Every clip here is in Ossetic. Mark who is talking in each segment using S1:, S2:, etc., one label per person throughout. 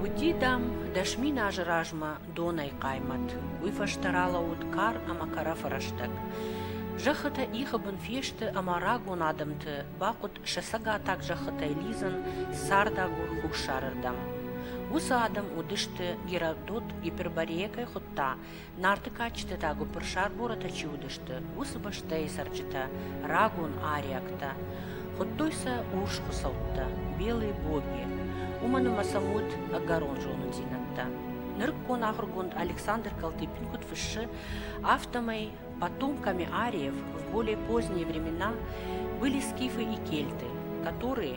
S1: Уыди, дам, дӕс мин азы размӕ донӕй хъаймӕт. Уый фӕстӕ ралӕууыд кар ӕмӕ кӕрӕфы рӕстӕг. Зӕххытӕ ихы бын фесты ӕмӕ рагон адӕмты бахъуыд сӕ цӕгатаг зӕххытӕй лидзын цардагур хуссарырдӕм. Уыцы адӕм уыдысты Геродот Гиперборейӕ кӕй хуыдта, Нарты кадджыты та гуыппырсӕрборытӕ чи уыдысты, уыцы бӕстӕйы цӕрджытӕ, рагон ариӕгтӕ. Хуыдтой сӕ урс хуыцӕуттӕ, белые боги. Уымӕн ӕмӕ сӕм уыд ӕгӕрон зонындзинӕдтӕ. Нырыккон ахуыргонд Александр Калтыпин куыд фыссы, афтӕмӕй потомками ариев в более поздние времена были скифы и кельты, которые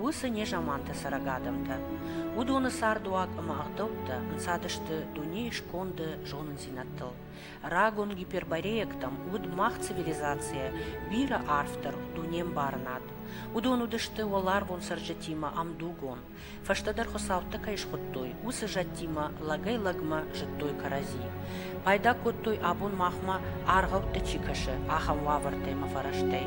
S1: Уыцы незаманты цӕрӕг адӕмтӕ, уыдоны цардуаг ӕмӕ ӕгъдӕуттӕ ӕнцадысты дунейы сконды зонындзинӕдтыл. Рагон гипербореектӕм уыд мах цивилизацийӕ бирӕ арфдӕр дунембарынад. Уыдон уыдысты уӕларвон цӕрджытимӕ ӕмдугон. Фӕстӕдӕр хуыцӕуттӕ кӕй схуыдтой, уыцы зӕдтимӕ лӕгӕй-лӕгмӕ зыдтой кӕрӕдзи. Пайда кодтой, абон махмӕ аргъӕуттӕ чи кӕсы, ахӕм уавӕртӕ ӕмӕ фӕрӕзтӕй.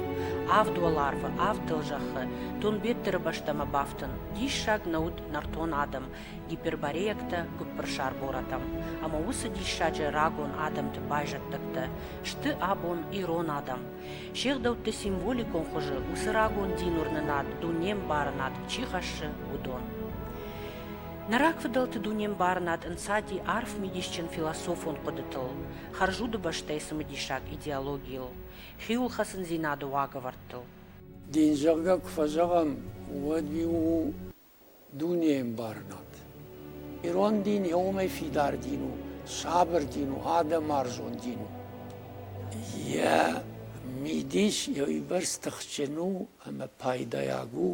S1: Авд уӕларвы, авд дӕлзӕххы Тунбеттыры бӕстӕмӕ бафтын. Диссаг нӕ уыд нӕртон адӕм, гипербореяктӕ гуыппырсар горӕтӕм. Ӕмӕ уыцы диссаджы рагон адӕмты байзӕддӕгтӕ сты абон ирон адӕм. Се гъдӕутты символикон хуызы уыцы рагон дин уырнынад дунембарынад чи хӕссы, уыдон. Нӕ рагфыдӕлты дунембарынад ӕнцади арф мидисджын философон хъуыдытыл, хӕрзуды бӕстӕйы цымыдисаг идеологийыл, хиуылхӕцындзинады уагӕвӕрдтыл. Дин зӕгъгӕ куы фӕзӕгъӕм, уӕд уый у дунеӕмбарынад. Ирон дин йӕ уымӕй фидар дин у, сабыр дин у, адӕмарзон дин у. Йӕ мидис йӕ уыйбӕрц тыхджын у ӕмӕ пайдайаг у,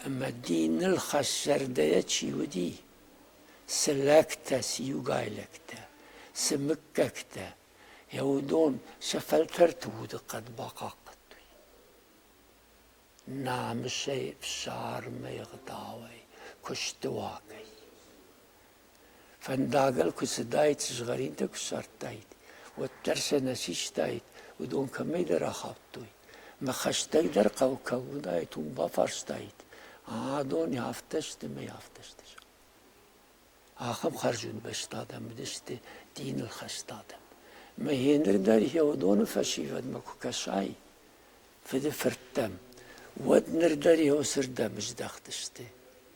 S1: Ӕма диныл хӕссӕрдӕйӕ чи уыди, цы лӕгтӕ, цы иугайлӕгтӕ, цы мыггӕгтӕ, йӕ уыдон сӕ фӕлтӕрты удыхъӕд бахъахъхъӕдтой. Намысӕй, фсармӕй, ӕгъдауӕй, куысты уагӕй. Фӕндагыл куы цыдаид, сызгъӕринтӕ куы ссардтаид, уӕддӕр сӕ нӕ систаид, уыдон кӕмӕйдӕр ахаудтой. Мӕ хӕстӕг дӕр хъӕуы кӕм уыдаид, уым бафарстаид: «А, дони афтӕ сты мӕй афтӕ сты?» Ахӕм хӕрзуын бӕсты адӕм уыдысты диныл хӕст адӕм. Мӕ гъеныр дӕр йӕ уыдоны фӕсивӕдмӕ куы кӕсай, фыды фырттӕм, уӕд ныр дӕр йӕ уыцырдӕм здӕхтысты.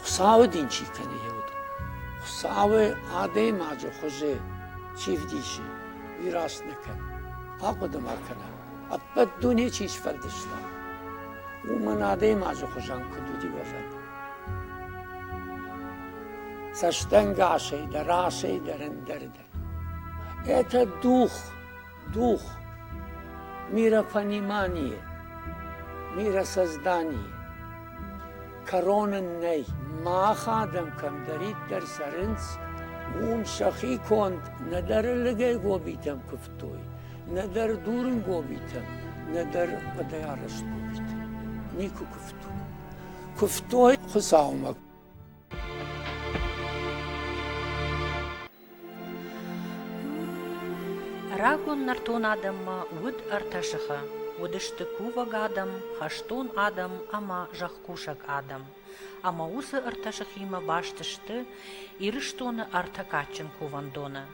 S1: Хуыцауы дин чи кӕны йӕ уд, Хуыцауы адӕймаджы хуызы чи вдисы, уый раст нӕ кӕн, ахъуыды ма кӕна, ӕппӕт дуне чи сфӕлдыста, уымӕн адӕймаджы хуызӕн куыд уыди уӕвӕн. Цӕстӕнгасӕй дӕ расӕй дӕр ӕндӕр дӕ. Это дух, дух миропонимания, миросоздания. Короны нӕй, мах адӕм кӕмдӕриддӕр цӕрынц, уым сӕхи конд нӕдӕр лыгӕй гобитӕм куывтой, нӕдӕр дурын гобитӕм, нӕдӕр хъуыдыарӕзт гобитӕм. Никуы куывтой. Куывтой Хуыцаумӕ. Рагон нӕртон адӕммӕ уыд ӕртӕ сыхы. Уыдысты кувӕг адӕм, хӕстон адӕм ӕмӕ зӕхкусӕг адӕм. Ӕмӕ уыцы ӕртӕ сыхимӕ баст сты Ирыстоны ӕртӕ кадджын кувӕндоны.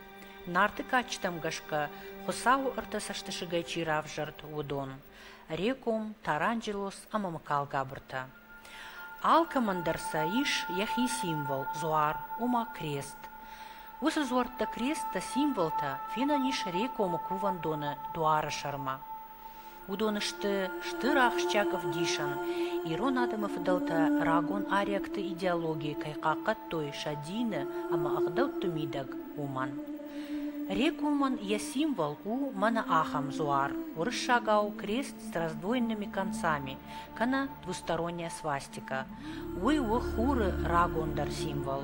S1: Нарты кадджытӕм гӕсгӕ Хуыцауы ӕртӕ цӕстысыгӕй чи равзӕрд, уыдон: Реком, Таранджелос ӕмӕ Мыкалгабыртӕ. Алкӕмӕн дӕр сӕ ис йӕхи символ, дзуар, ома крест. Уыцы дзуӕрттӕ кресттӕ символтӕ фенӕн ис Рекомы кувӕндоны дуары сӕрмӕ. Уыдон сты стыр ахсджиаг ӕвдисӕн, ирон адӕмы фыдӕлтӕ рагон ариӕгты идеологийы кӕй хъахъхъӕдтой сӕ дины ӕмӕ ӕгъдӕутты мидӕг, уымӕн. Рекомӕн йӕ символ у мӕнӕ ахӕм дзуар, уырыссагау крест с раздвоенными концами, кӕнӕ двусторонняя свастика. Уый у хуры рагондӕр символ.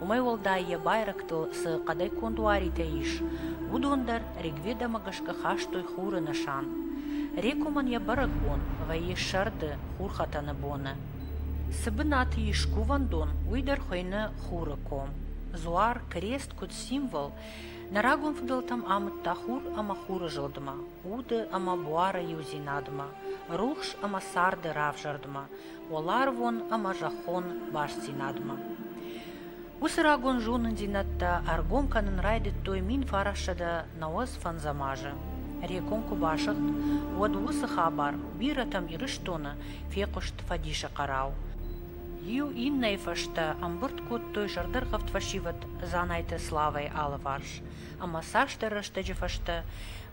S1: Уымӕй уӕлдай йӕ байрӕгтыл цы хъӕдӕй конд уаритӕ ис, уыдон дӕр ригведамӕ гӕсгӕ хастой хуры нысан. Рекомӕн йӕ бӕрӕгбон вӕййы сӕрды, хурхӕтӕны боны. Цы бынаты ис кувӕндон, уый дӕр хуыйны хуры ком. Дзуар, крест куыд символ, Нӕ рагон фыдӕлтӕм амыдта хур ӕмӕ хуры зылдмӕ, уды ӕмӕ буары иудзинадмӕ, рухс ӕмӕ царды равзӕрдмӕ, уӕларвон ӕмӕ зӕххон бастдзинадмӕ. Уыцы рагон зонындзинӕдтӕ ӕргом кӕнын райдыдтой мин фарӕссӕдӕ нӕуӕдз фӕндзӕм азы. Рекон куы басыгъд, уӕд уыцы хабар бирӕтӕм Ирыстоны фехъуыст фӕдисы хъӕрӕу. Иу иннӕйы фӕстӕ ӕмбырд кодтой зӕрдӕргъӕвд фӕсивӕд Дзанайты Славӕйы алыварс ӕмӕ цасдӕр рӕстӕджы фӕстӕ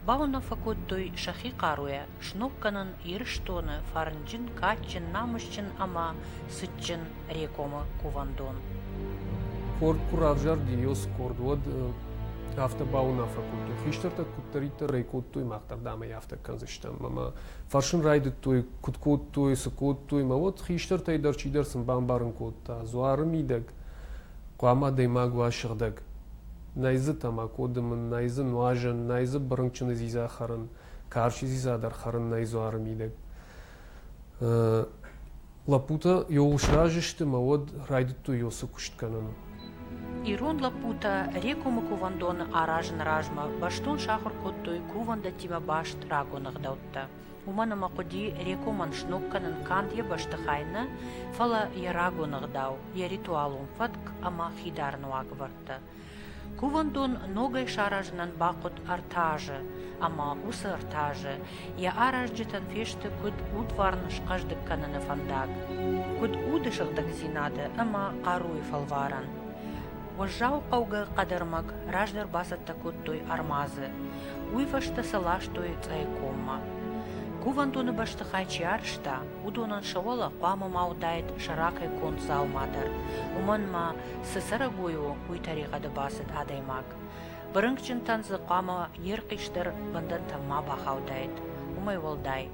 S1: бауынаффӕ кодтой сӕхи хъаруйӕ сног кӕнын Ирыстоны фӕрнджын, кадджын, намысджын ӕмӕ цытджын Рекомы кувӕндон. Къорд куы равзӕрд, ИОС къорд, уӕд афтӕ бауынаффӕ кодтой, хистӕртӕ куыддӕриддӕр ӕй кодтой, мах дӕр дам ӕй афтӕ кӕндзыстӕм ӕмӕ фӕрсын райдыдтой, куыд кодтой, цы кодтой, мӕ уӕд хистӕртӕй дӕр чидӕр сын бамбарын кодта, дзуары мидӕг хъуамӕ адӕймаг уа сыгъдӕг. Нӕй дзы тамако дымын, нӕй дзы нуазӕн, нӕй дзы бырынкъчыны дзидза хӕрын, карчы дзидза дӕр хӕрын нӕй дзуары мидӕг. Лӕппутӕ иууыл сразы сты мӕ уӕд райдыдтой Йосы куыст кӕнын. Ирон лӕппутӕ Рекомы кувӕндоны аразыны размӕ бӕстон сахуыр кодтой кувӕндӕттимӕ баст рагон ӕгъдӕуттӕ. Уымӕн ӕмӕ хъуыди Рекомӕн сног кӕнын канд йӕ бӕстыхай нӕ, фӕлӕ йӕ рагон ӕгъдау, йӕ ритуалон фӕтк ӕмӕ хидарӕн уагӕвӕрдтӕ. Кувӕндон ногӕй саразынӕн бахъуыд ӕртӕ азы, ӕмӕ уыцы ӕртӕ азы йӕ аразджытӕн фесты куыд удварн схъӕздыг кӕныны фӕндаг, куыд уды сыгъдӕгдзинады ӕмӕ хъаруйы фӕлварӕн. Уӕззау хъӕугӕ хъӕдӕрмӕг раздӕр бацӕттӕ кодтой ӕрмадзы, уый фӕстӕ сӕ ластой Цъӕйкоммӕ. Кувӕндоны бӕстыхай чи арӕзта, уыдонӕн сӕ уӕлӕ хъуамӕ ма уыдаид сӕ ракӕй конд дзаума дӕр, уымӕн ма цы цӕрӕгой у, уый тӕригъӕды бацыд адӕймаг. Бырынкъджынтӕн дзы хъуамӕ йе рхъисдӕр бӕндӕнтӕ ма бахаудаид. Уымӕй уӕлдай,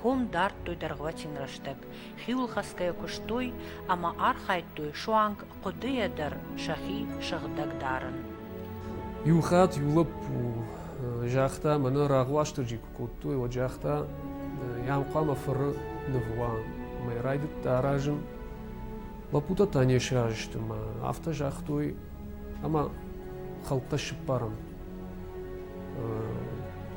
S1: ком дардтой дӕргъвӕтин рӕстӕг, хиуылхӕцгӕйӕ куыстой ӕмӕ архайдтой суанг хъуыдыйӕ дӕр сӕхи сыгъдӕг дарын. Иу хатт иу лӕппу загъта, мӕнӕ рагъуастырджи куы кодтой, уӕд загъта, йӕм хъуамӕ фыры ныв уа. Мӕй райдыдта аразын, Лӕппутӕ не сразы сты мӕ афтӕ загътой, ӕмӕ хӕлттӕ сыппарӕм.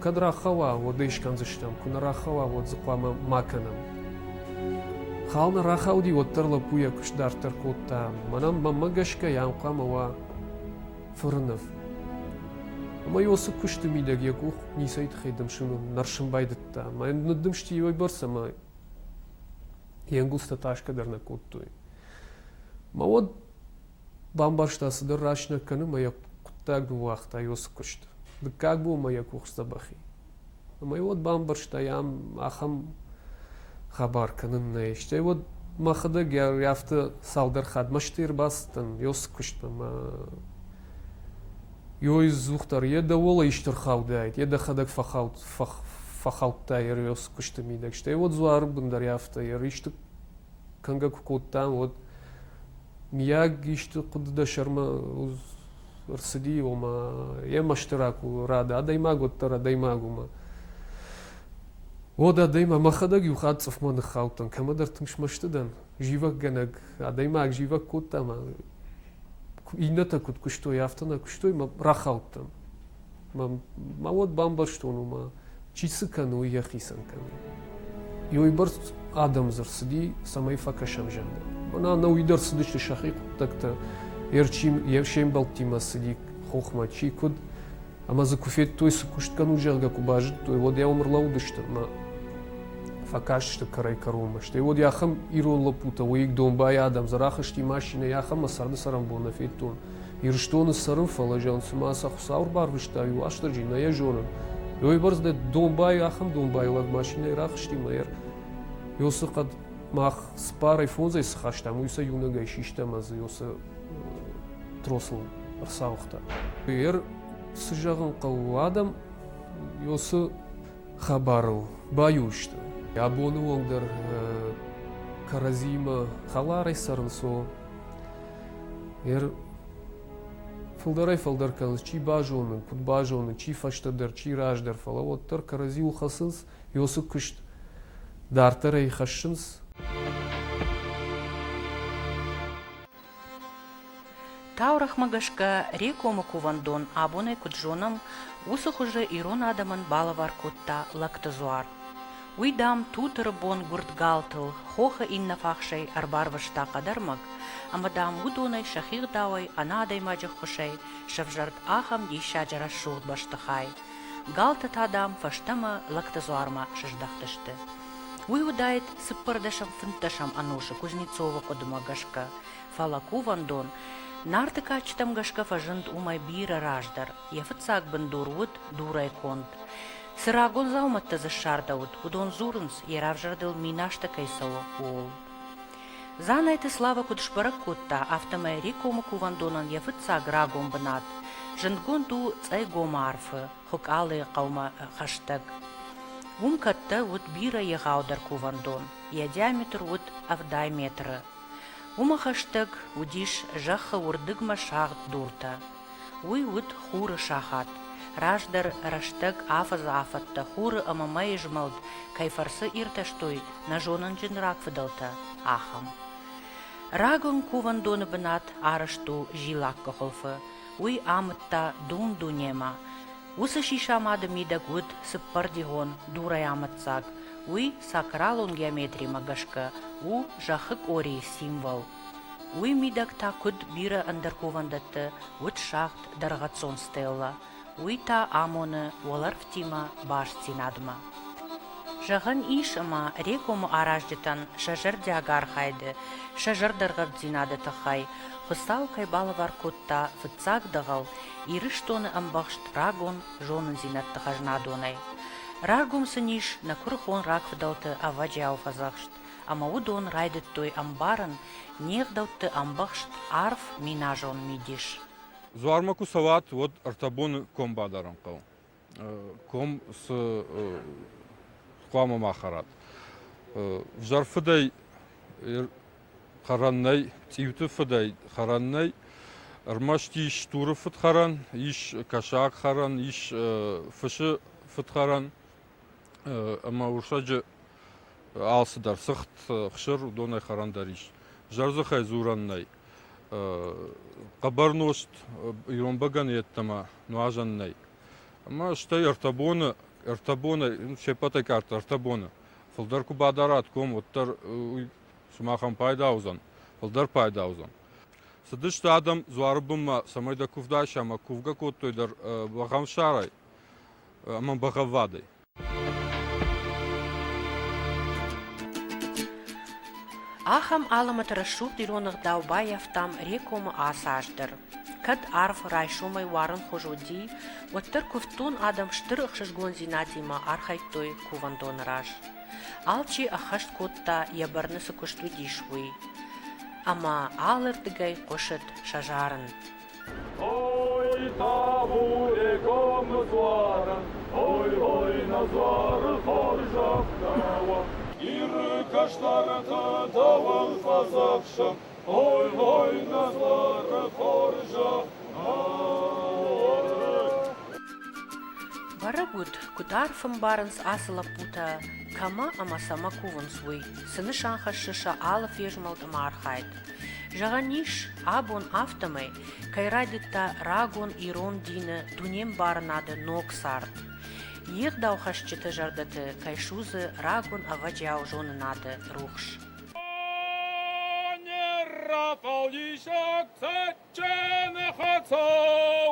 S1: Кӕд рахауа, уӕд ӕй скӕндзыстӕм, куы нӕ рахауа, уӕд дзы хъуамӕ ма кӕнӕм. Хал нӕ рахауди, уӕддӕр лӕппу йӕ куыст дарддӕр кодта. Мӕнӕн мӕнмӕ гӕсгӕ йӕм хъуамӕ уа фыры ныв. Ӕмӕ Иосы куысты мидӕг йӕ къух ницӕй тыххӕй дымсын нӕрсын байдыдта. Мӕ ныддымсти уойбӕрц ӕмӕ Йе нгузтӕ тасгӕ дӕр нӕ кодтой. Мӕ уӕд бамбӕрста, цыдӕр рӕсынӕг кӕны мӕ йӕ хъуыддаг ныууагъта Иосы куыст. Дыккаг бон мӕ йӕ къух сдзӕбӕх и. Ӕмӕ уӕд бамбӕрста, йӕм ахӕм хабар кӕнын нӕй. Стӕй уӕд мӕхӕдӕг йӕ афтӕ цалдӕр хатт мӕстӕй ӕрбацыдтӕн Иосы куыстмӕ мӕ Йой ӕдзухдӕр е дӕуӕл ӕйстур хаудӕй, е дӕхӕдӕг фӕххаудтай Эриос кусти мидӕг. Стӕй уод дзуар бундӕр афтӕ еристи кӕнгӕ ку кодтан, уӕд миаг исти хъуди дӕ сӕрмӕ ӕрцыди, ома е мӕстӕрӕ ку рада адӕймаг, уӕддӕр адӕймаг ӕма уод адӕймаг, мӕхӕдӕг еу хатт цъӕхмӕ ниххаудтӕн, кӕмӕдӕр тынг смӕсти дӕн, зивӕггӕнӕг, адӕймаг зивӕг кодта ма иннӕтӕ куыд куыстой, афтӕ нӕ куыстой, мӕ рахаудтӕн. Мӕ, мӕ уӕд бамбӕрстон уымӕ, чи цы кӕны, уый йӕхицӕн кӕны. Иуйбӕрц адӕм дзы рцыди, цӕмӕй фӕкӕсӕм зӕнды. Мӕнӕ ӕнӕуый дӕр цыдысты сӕхи хъуыддӕгтӕ, йе рчи, йе се мбӕлттимӕ цыди хохмӕ, чи куыд, Ӕмӕ дзы куы федтой, цы куыст кӕнут, зӕгъгӕ, куы базыдтой, уӕд йӕ уым ӕрлӕудысты ӕмӕ фӕкастысты кӕрӕй-кӕронмӕ. Стӕй уӕд ахӕм ирон лӕппутӕ, уыйыг домбайы адӕм, Дзӕрӕх сти машинӕйы, ахӕм мӕ царды цӕрӕнбон нӕ федтон. Ирыстоны цӕрын, фӕлӕ зӕгъын, цыма сӕ Хуыцау ӕрбарвыста, иу Уастырджи, нӕ йӕ зонын. Уыйбӕрц дӕ домбай, ахӕм домбайы лӕг машинӕйы рахызти мӕ йӕ Иосы хъӕд мах цыппарӕй фондзӕй цы хастам, уый сӕ иунӕгӕй систам ӕз Иосы тросыл ӕрцауыгъта. Эр цы зӕгъын хъӕуы адӕм уыцы хабарыл баиу сты. Абоны онг дӕр кӕрӕдзимӕ хӕларӕй цӕрынц, о. Эр фылдӕрӕй фылдӕр кӕнынц, чи базонын, куыд базонын, чи фӕстӕдӕр, чи раздӕр, фӕлӕ уӕддӕр кӕрӕдзиуыл хӕцынц, ёсы куыст дарддӕрӕй хӕссынц. Таурӕхмӕ гӕсгӕ, рекомы кувӕндон абонӕй куыд зонӕм, уыцы хуызы ирон адӕмӕн балӕвар кодта лӕгты дзуар. Уый, дам, Тутыры бон гуырдгалтыл хохы иннӕ фахсӕй ӕрбарвыста хъӕдӕрмӕг, ӕмӕ, дам, уыдонӕй сӕхи гъдауӕй ӕнӕ адӕймаджы ххуысӕй сӕвзӕрд ахӕм диссаджы рӕсугъд бӕстыхай. Галты та, дам, фӕстӕмӕ лӕгты дзуармӕ сыздӕхтысты. Уый уыдаид цыппӕрдӕсӕм-фынддӕсӕм ӕнусы Кузнецовы хъуыдымӕ гӕсгӕ, фӕлӕ кувӕндон, Нарты кадджытӕм гӕсгӕ фӕзынд уымӕй бирӕ раздӕр, йӕ фыццаг бындур уыд дурӕй конд. Цы рагон дзаумӕттӕ дзы ссардӕуыд, уыдон дзурынц, йӕ равзӕрдыл минӕстӕ кӕй цӕуы, ууыл. Дзанайты Слава куыд сбӕрӕг кодта, афтӕмӕй Рекомы кувӕндонӕн йӕ фыццаг рагон бынат зындгонд у Цъӕйгомы арфы, Хуыкъалыйы хъӕумӕ хӕстӕг. Уым кӕттӕ уыд бирӕ егъаудӕр кувӕндон, йӕ диаметр уыд ӕвдай метры. Уымӕ хӕстӕг уыдис зӕххы уырдыгмӕ сагъд дуртӕ. Уый уыд хуры сахат. Раздӕр рӕстӕг афӕдзы афӕдтӕ хуры ӕмӕ мӕйы змӕлд кӕй фӕрцы иртӕстой нӕ зонынджын рагфыдӕлтӕ, ахӕм. Рагон кувӕндоны бынат арӕзт у зилаккы хуылфы, уый амыдта дун-дунемӕ. Уыцы сисамады мидӕг уыд цыппӕрдигъон дурӕй амыддзаг, уый сакралон геометримӕ гӕсгӕ у зӕххы къорийы символ. Уый мидӕг та куыд бирӕ ӕндӕр кувӕндӕтты уыд сагъд дӕргъӕццон стеллӕ, уый та амоны уӕлӕрвтимӕ бастдзинадмӕ. Зӕгъӕн ис, ӕмӕ Регомы аразджытӕн сӕ зӕрдиаг архайды, сӕ зӕрдӕргъӕвддзинады тыххӕй Хуыцау кӕй балӕвар кодта фыццаг дӕгъӕл Ирыстоны ӕмбӕхст рагон зонындзинӕдты хӕзнадонӕй. Рагом сын ис нӕ куырыхон рагфыдӕлты ӕвӕджиау фӕдзӕхст, ӕмӕ уыдон райдыдтой ӕмбарын не гъдӕутты ӕмбӕхст арф миназон мидис. Дзуармӕ куы цӕуат, уӕд ӕртӕ боны комбадарӕн хъӕу ком цы хъуамӕ ма хӕрат. Взӕр фыдӕй хӕрӕн нӕй, цъиуты фыдӕй хӕрӕн нӕй. Ӕрмӕст ис стуры фыдхӕрӕн, ис кӕсаг хӕрӕн, ис фысы фыдхӕрӕн. ӕмӕ урсаджы алцыдӕр сыгъд, хсыр, уыдонӕй хӕрӕн дӕр ис. Зӕрдзыхӕй дзурӕн нӕй. Хъӕбӕр нозт ирон бӕгӕны йеддӕмӕ нуазӕн нӕй. Ӕмӕ стӕй ӕртӕ боны, ӕртӕ бонӕй, се ппӕтӕй къаддӕр ӕртӕ боны. Фылдӕр куы бадарат ком, уӕддӕр уый сымахӕн пайда уыдзӕн, фылдӕр пайда уыдзӕн. Цыдысты адӕм дзуары бынмӕ, цӕмӕй дӕ куывд айса ӕмӕ кувгӕ кодтой дӕр бӕхӕмсӕрӕй. ӕмӕ бӕгъӕввадӕй. Ахӕм алымӕты рӕсугъд ирон ӕгъдау баййӕфтам Рекомы ацы аз дӕр. Кӕд арв райсомӕй уарынхуыз уыди, уӕддӕр куывддон адӕм стыр ӕхсызгондзинадимӕ архайдтой кувӕндоны раз. Алчи ӕххӕст кодта, йӕ бӕрны цы куыст уыдис, уый. Ӕмӕ алырдыгӕй хъуысыд сӕ зарын. Ой, табуре комнузвара, ой, ой, назвара хоржавтава, Иры каштарата давал фазавша, ой, ой, назвара хоржавтава. Бӕрӕг уыд, куыд арф ӕмбарынц ацы лӕппутӕ, кӕмӕ ӕмӕ цӕмӕ кувынц, уый. Цы нысан хӕссы сӕ алы фезмӕлд ӕмӕ архайд? Зӕгъӕн ис, абон афтӕмӕй, кӕй райдыдта рагон ирон дины дунембарынады ног цард, йе ӕгъдаухӕсджыты зӕрдӕты кӕй судзы рагон ӕвӕджиау зонынады рухс. Ӕнӕррафӕлдисӕг цӕджджӕны хӕцау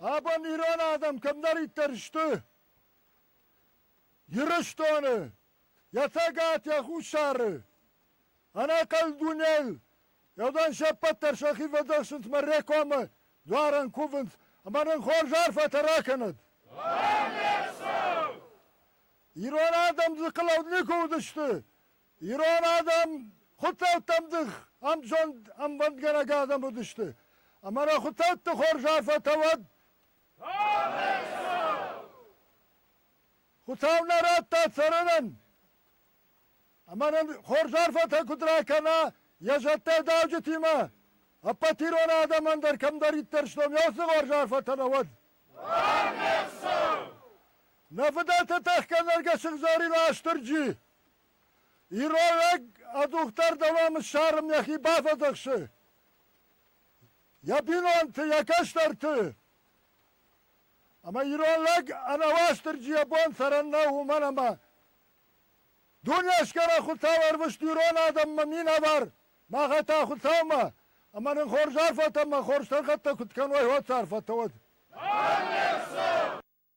S1: Абон ирон адӕм кӕмдӕриддӕр сты Ирыстоны, йӕ Цӕгат, йӕ Хуссары, ӕнӕхъӕн дунейыл, уыдон се ппӕт дӕр сӕхи фӕдзӕхсынц мӕ Рекомы дуарӕн кувынц ӕмӕ нын хорз арфӕтӕ ракӕнӕд. Ирон адӕм дзыхъылӕуд никуы уыдысты, Ирон адӕм хуыцӕуттӕм дых ӕмзонд ӕмбӕндгӕнӕг адӕм уыдысты, ӕмӕ нӕ хуыцӕутты хорз арфӕтӕ уӕд! Хуыцау нӕ радта цӕрынӕн, ӕмӕ нын хорз арфӕтӕ куыд ракӕна йӕ зӕдтӕ дауджытимӕ, ӕппӕт ирон адӕмӕн дӕр кӕмдӕриддӕр стом, йӕ уыцы хорз арфӕтӕ нӕ уӕд! Нӕ фыдӕлты тӕхгӕ нӕргӕ сыгъзӕрин Астырджи! Иролӕг ӕдухдӕр дӕуӕн ссарын йӕхи бафӕдзӕхсы. Йӕ бинонты, йӕ кӕстӕрты. Ӕмӕ ирон лӕг ӕнӕ Уастырджи йӕ бон цӕрӕн нӕу уымӕн ӕмӕ дуне сгӕрӕ Хуыцау ӕрвыст ирон адӕммӕ минӕвар махӕ та Хуыцаумӕ ӕмӕ нын хорз арфӕтӕ ӕмӕ хорз сӕргъӕттӕ куыд кӕной уӕд сӕ арфӕтӕ уӕд.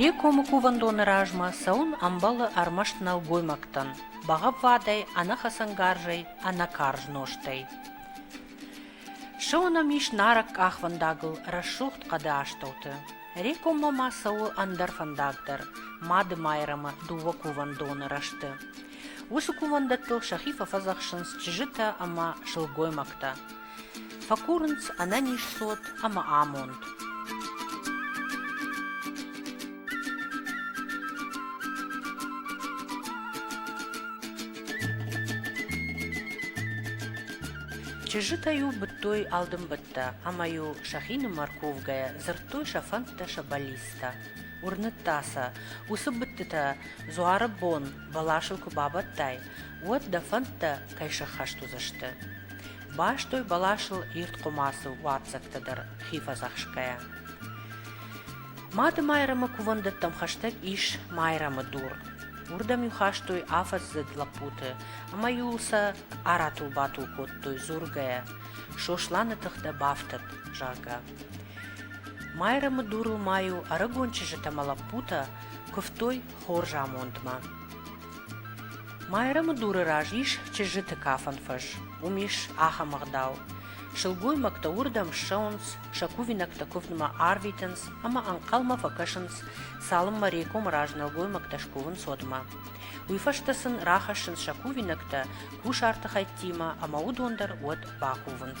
S1: Рекомы кувӕндоны размӕ цӕуын ӕмбӕлы ӕрмӕст нӕлгоймӕгтӕн бӕгъӕввадӕй, ӕнӕхӕцӕнгарзӕй, ӕнӕкарз нозтӕй. Сыонӕм ис нарӕг къахвӕндагыл рӕсугъд хъӕды астӕуты. Рекоммӕ ма цӕуы ӕндӕр фӕндаг дӕр Мады Майрӕмы дыууӕ кувӕндоны рӕзты. Уыцы кувӕндӕттыл сӕхи фӕфӕдзӕхсынц чызджытӕ ӕмӕ сылгоймӕгтӕ. Фӕкурынц ӕнӕниз цот ӕмӕ амонд. Чызджытӕ-иу быдтой алдымбыдтӕ ӕмӕ-иу сӕхинымӕр кувгӕйӕ дзырдтой сӕ фӕндтӕ сӕ бӕллицтӕ. Уырныдта сӕ, уыцы быдтытӕ дзуары бон бӕласыл куы бабӕттай, уӕд дӕ фӕндтӕ кӕй сӕххӕст уыдзысты. Бастой бӕласыл ирд хъуымацы уадздзӕгтӕ дӕр хи фӕдзӕхсгӕйӕ. Мады Майрӕмы кувӕндӕттӕм хӕстӕг ис Майрӕмы дур. Уырдӕм-иу хастой афӕдздзыд лӕппуты, ӕмӕ-иу сӕ аратул-батул кодтой дзургӕйӕ, Сосланы тыхтӕ бафтӕд, зӕгъгӕ. Майрӕмы дурыл ма-иу ӕрыгон чызджыты ӕмӕ лӕппутӕ куывтой хорз амондмӕ. Майрӕмы дуры раз ис чызджыты кафӕн фӕз. Уым ис ахӕм ӕгъдау. Сылгоймӕгтӕ уырдӕм ссӕуынц, сӕ кувинӕгтӕ куывдмӕ арвитынц ӕмӕ ӕнхъӕлмӕ фӕкӕсынц, цалынмӕ Рекомы раз нӕлгоймӕгтӕ скувын цотмӕ. Уый фӕстӕ сын рахӕссынц сӕ кувинӕгтӕ кусарты хӕйттимӕ ӕмӕ уыдон дӕр уӕд бакувынц.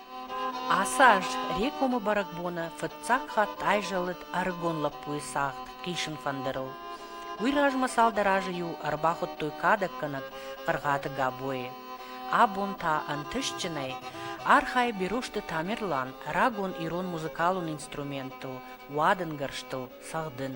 S1: Ацы аз Рекомы бӕрӕгбоны фыццаг хатт айзӕлыд ӕрыгон лӕппуйы цагъд хъисын фӕндырыл. Уый размӕ цалдӕр азы-иу ӕрбахуыдтой кадӕггӕнӕг Хъыргъаты Габойы. Абон та ӕнтыстджынӕй архайы Берозты Тамерлан рагон ирон музыкалон инструментыл, уадынгӕрзтыл цӕгъдын.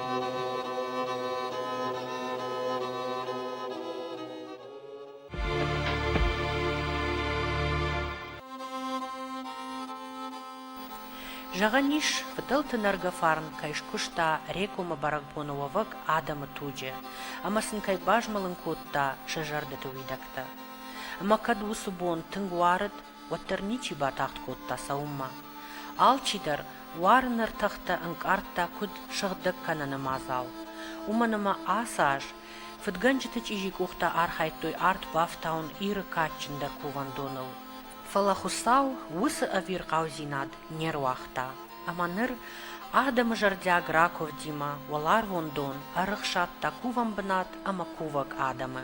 S1: Зӕгъӕн ис, фыдӕлты нӕргӕ фарн кӕй скуыста Рекомы бӕрӕгбоны уӕвӕг адӕмы туджы ӕмӕ сын кӕй базмӕлын кодта сӕ зӕрдӕты уидӕгтӕ. Ӕмӕ кӕд уыцы бон тынг уарыд, уӕддӕр ничи батагъд кодта цӕуынмӕ. Алчидӕр уарыны ӕртӕхтӕ ӕнкъардта куыд сыгъдӕг кӕныны мадзал. Уымӕн ӕмӕ ацы аз фыдгӕнджыты чъизи къухтӕ архайдтой арт бафтауын Иры кадджындӕр кувӕндоныл. Фӕлӕ Хуыцау уыцы ӕвирхъаудзинад не руагъта, ӕмӕ ныр адӕмы зӕрдиаг ракуывдимӕ уӕларвон дон ӕрыхсадта кувӕн бынат ӕмӕ кувӕг адӕмы.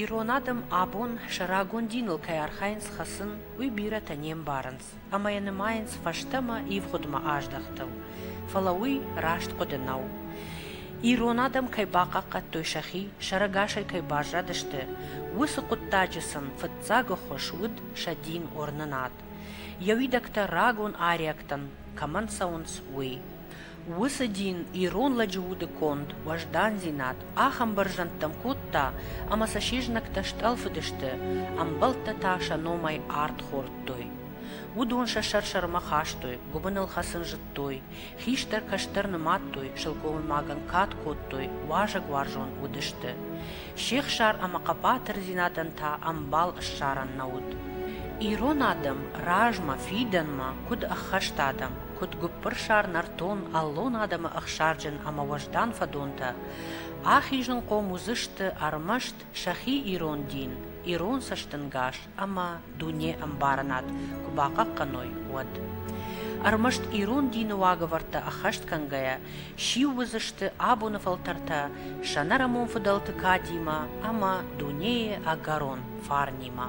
S1: Ирон адӕм абон сӕ рагон диныл кӕй архайынц хӕцын, уый бирӕтӕ не мбарынц ӕмӕ йӕ нымайынц фӕстӕмӕ ивгъуыдмӕ аздӕхтыл. Фӕлӕ уый раст хъуыды нӕу. Ирон адӕм кӕй бахъахъхъӕдтой сӕхи, сӕрӕгасӕй кӕй баззадысты, уыцы хъуыддаджы сын фыццагы хуыз уыд сӕ дин уырнынад. Йӕ уидӕгтӕ рагон ариӕгтӕн кӕмӕн цӕуынц, уый. Уыцы дин ирон лӕджы уды конд, уӕздандзинад ахӕм бӕрзӕндтӕм кодта, ӕмӕ сӕ се знӕгтӕ стъӕлфыдысты, ӕмбӕлттӕ та сӕ номӕй ард хордтой. Уыдон сӕ сӕр-сӕрмӕ хастой, гуыбыныл хӕцын зыдтой, хистӕр-кӕстӕр нымадтой, сылгоймагӕн кад кодтой, уазӕгуарзон уыдысты. Се хсар ӕмӕ хъӕбатырдзинадӕн та ӕмбал ссарӕн нӕ уыд. Ирон адӕм размӕ, фидӕнмӕ, куыд ӕххӕст адӕм, куыд гуыппырсар нӕртон аллон адӕмы ӕхсарджын ӕмӕ уӕздан фӕдонтӕ, ахизынхъом уыдзысты ӕрмӕст сӕхи ирон дин, ирон цӕстӕнгас ӕмӕ дунеӕмбарынад куы бахъахъхъӕной, уӕд. Ӕрмӕст ирон дины уагӕвӕрдтӕ ӕххӕст кӕнгӕйӕ, сиу уыдзысты абоны фӕлтӕртӕ сӕнӕрамон фыдӕлты кадимӕ ӕмӕ дунейы ӕгӕрон фарнимӕ.